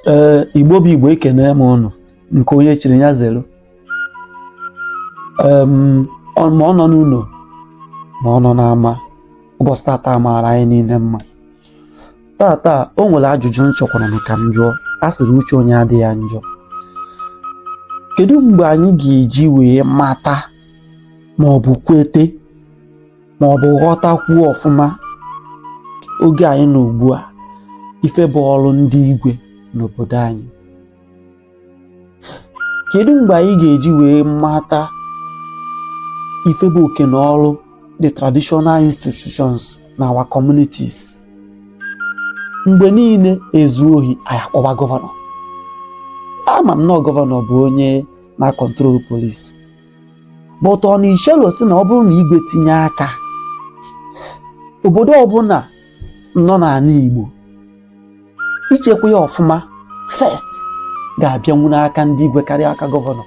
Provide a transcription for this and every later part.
ee igbo bụ igbo ekene m ụnụ nke onye chiri ya zelu Em, ọ- ma ọ nọ n'ụnọ ma ọ nọ n'ama ụbọsị tata maara anyị niile mma tata o nwere ajụjụ m chọkwara m ka m jụọ a sịrị uche onye adịghị ya njọ kedu mgbe anyị ga-eji wee mata ma ọ bụ kwete ma ọ bụ ghọtakwuo ọfụma oge anyị nọ ugbu a ife bụ ọrụ ndị igwe n'obodo anyị kedu mgbe anyị ga-eji wee mata ife bụ oke na ọrụ the traditional institutions na our communities mgbe niile e zuo ohi anyị akpọba gọvanọ ama m na gọvanọ bụ onye na-acontrol police but ọ na i chelọ sị na ọ bụrụ na igwe tinye aka obodo ọbụna nọ n'ana Igbo ichekwa ya ọfụma first ga-abịanwu n'aka ndị igwe karịa aka gọvanọ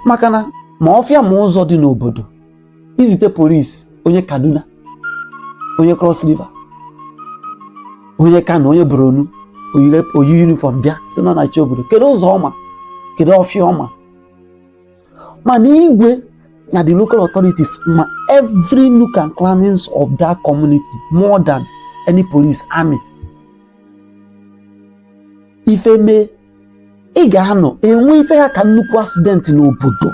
maka na ma ọfịa ma ụzọ dị n'obodo i zite police onye Kaduna onye Cross River onye Kano onye Borno o yi uniform bịa sị na ọ na-eche obodo kedu ụzọ ọ ma kedu ọfịa ọ ma mana igwe na the local authorities ma every nook and crannies of that community more than any police army ife mee ị ga-anọ e nwee ife ha ka nnukwu accident n'obodo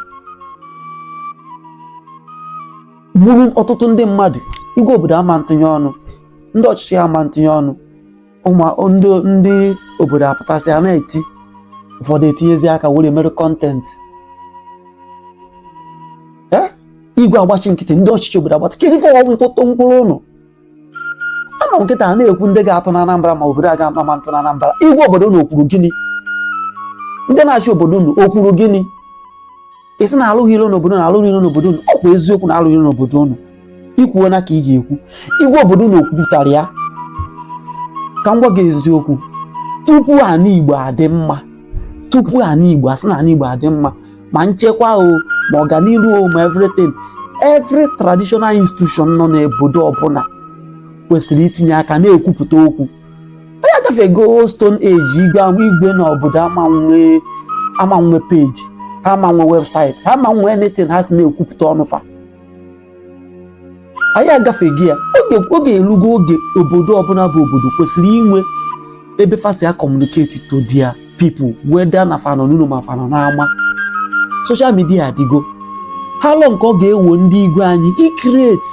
gburu ọtụtụ ndị mmadụ igwe obodo ama ntụnye ọnụ ndị ọchịchị ama ntụnye ọnụ ụmụ ndị ndị obodo apụtasịa na-eti ụfọdụ etinyezie aka were mere content Eh? igwe agbachi nkịtị ndị ọchịchị obodo agbata kedu ife ọgwụ mkpụtụ mkpụrụ ụnụ anọ nkịtị a na-ekwu ndị ga-atụ na Anambra ma obodo a ga-atụ ma ntụ na Anambra igwe obodo unu o kwuru gịnị ndị na-achị obodo unu o kwuru gịnị esi na alụghị ilo n'obodo na alụghị ilo n'obodo unu ọkwa eziokwu na alụghị ilo n'obodo unu i kwuo na ka ị ga-ekwu igwe obodo unu okwupụtara ya ka m gwa gị eziokwu tupu ana igbo adị mma tupu ana igbo a sị na ana igbo adị mma ma nchekwa o ma ọganihu o ma everything every traditional institution nọ n'obodo ọbụna kwesịrị itinye aka na-ekwupụta okwu anyị agafego stone age igwe ahụ igwe na obodo ama nwe ama nwe page ha ama nwe website ha ama nwe anything ha si na-ekwupụta ọnụ fa anyị agafego ya oge oge elugo oge obodo ọbụna bụ obodo kwesịrị inwe ebe fa si a communicate to their people whether na fa nọ n'ụnọ ma fa nọ n'ama social media adịgo how long ka ọ ga-ewe ndị igwe anyị i create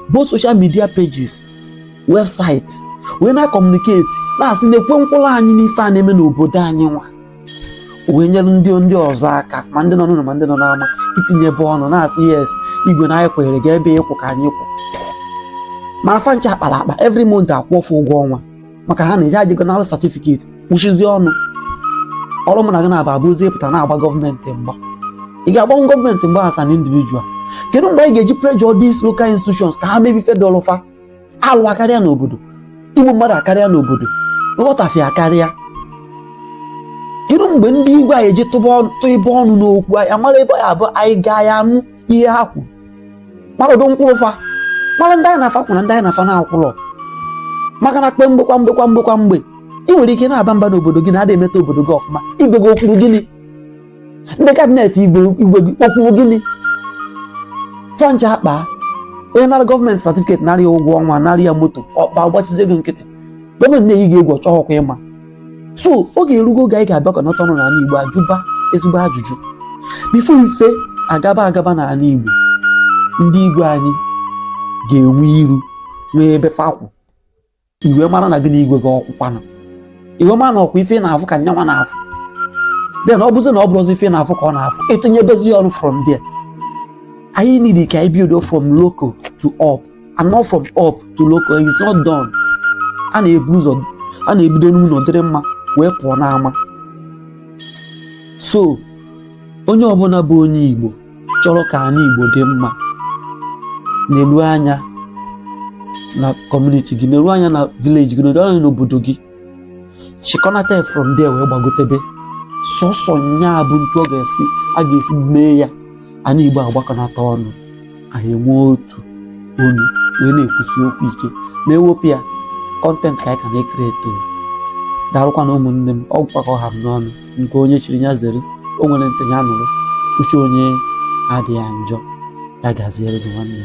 both social media pages website wee na-akọmuniketi na-asị na-ekwu nkwụrụ anyị n'ife a na-eme n'obodo anyị nwa wee nyere ndị ndị ọzọ aka ma ndị nọ n'ụlọ ma ndị nọ n'ama itinyebe ọnụ na-asị yes igwe na anyị kwenyere gị ebe ị kwụ ka anyị kwụ mana fa ncha akpara akpa every month a kwụọ fa ụgwọ ọnwa maka ha na-eji ajịgo nara satifiketi kwuchizie ọnụ ọrụ mụ na gị nwa abụzi ịpụta na-agba gọọmenti mgba ị ga-agbanwe gọọmenti mgba as an individual kedu mgbe anyị ga-eji pressure these local institutions ka ha mebe ife dịlụ fa alụ akarịa n'obodo igbu mmadụ akarịa n'obodo nghọtafia akarịa kedu mgbe ndị igwe anyị eji tụba ọnụ- tiibe ọnụ n'okwu anyị amara ebe ya abụ anyị gaa ya anụ ihe ha kwuru mara ụdị nkwụrụ fa mara ndị anyị na fa kwụ na ndị anyị na fa na-akwụrọ maka na kwa mgbe kwa mgbe kwa mgbe kwa mgbe ị nwere ike na-aba mba n'obodo gị na a da emeta obodo gị ọfụma igwe gị o kwuru gịnị ndị kabinet igwe igwe gị o kwuu gịnị fa ncha akpa onye nara gọọmenti satifiketi nara ya ụgwọ ọnwa nara ya moto ọkpa gbachizie gị nkịtị gọọmenti na-eyi gị egwu ọ chọọkwa ịma so oge erugo oge anyị ga-abịakọnata ọnụ n'ala igbo ajụba ezigbo ajụjụ before ife agaba agaba n'ala igbo ndị igwe anyị ga-enwe iru nwee ebe fa kwụ ị wee mara na gị na igwe gị ọ kwụkwa ọnụ ị wee mara na ọkwa ife ị na-afụ ka nya nwa na-afụ then ọ bụzi na ọ bụrọzi ife ị na-afụ ka ọ na-afụ i tinyebezi ya ọnụ from there anyị need ka anyị bido from local to up and not from up to local it's not done a na-ebu ụzọ a na-ebido n'ụlọ dịrị mma wee pụọ n'ama so onye ọbụla bụ onye Igbo chọrọ ka anị Igbo dị mma na-eru anya na community gị na-eru anya na village gị na-eru anya n'obodo gị chịkọnata from there wee gbagotebe sọsọ nya bụ etu ọ ga-esi a ga-esi mee ya anị Igbo agbakọnata ọnụ anyị enwee otu olu wee na-ekwusi okwu ike ma e wepụ ya content ka anyị ka na-create o daalụkwanụ ụmụnne m ọ gwụkwa ka ọ ha m n'ọnụ nke onye chiri nya zere o nwere ntị nya nụrụ uche onye adịa njọ ya gaziere gị nwanne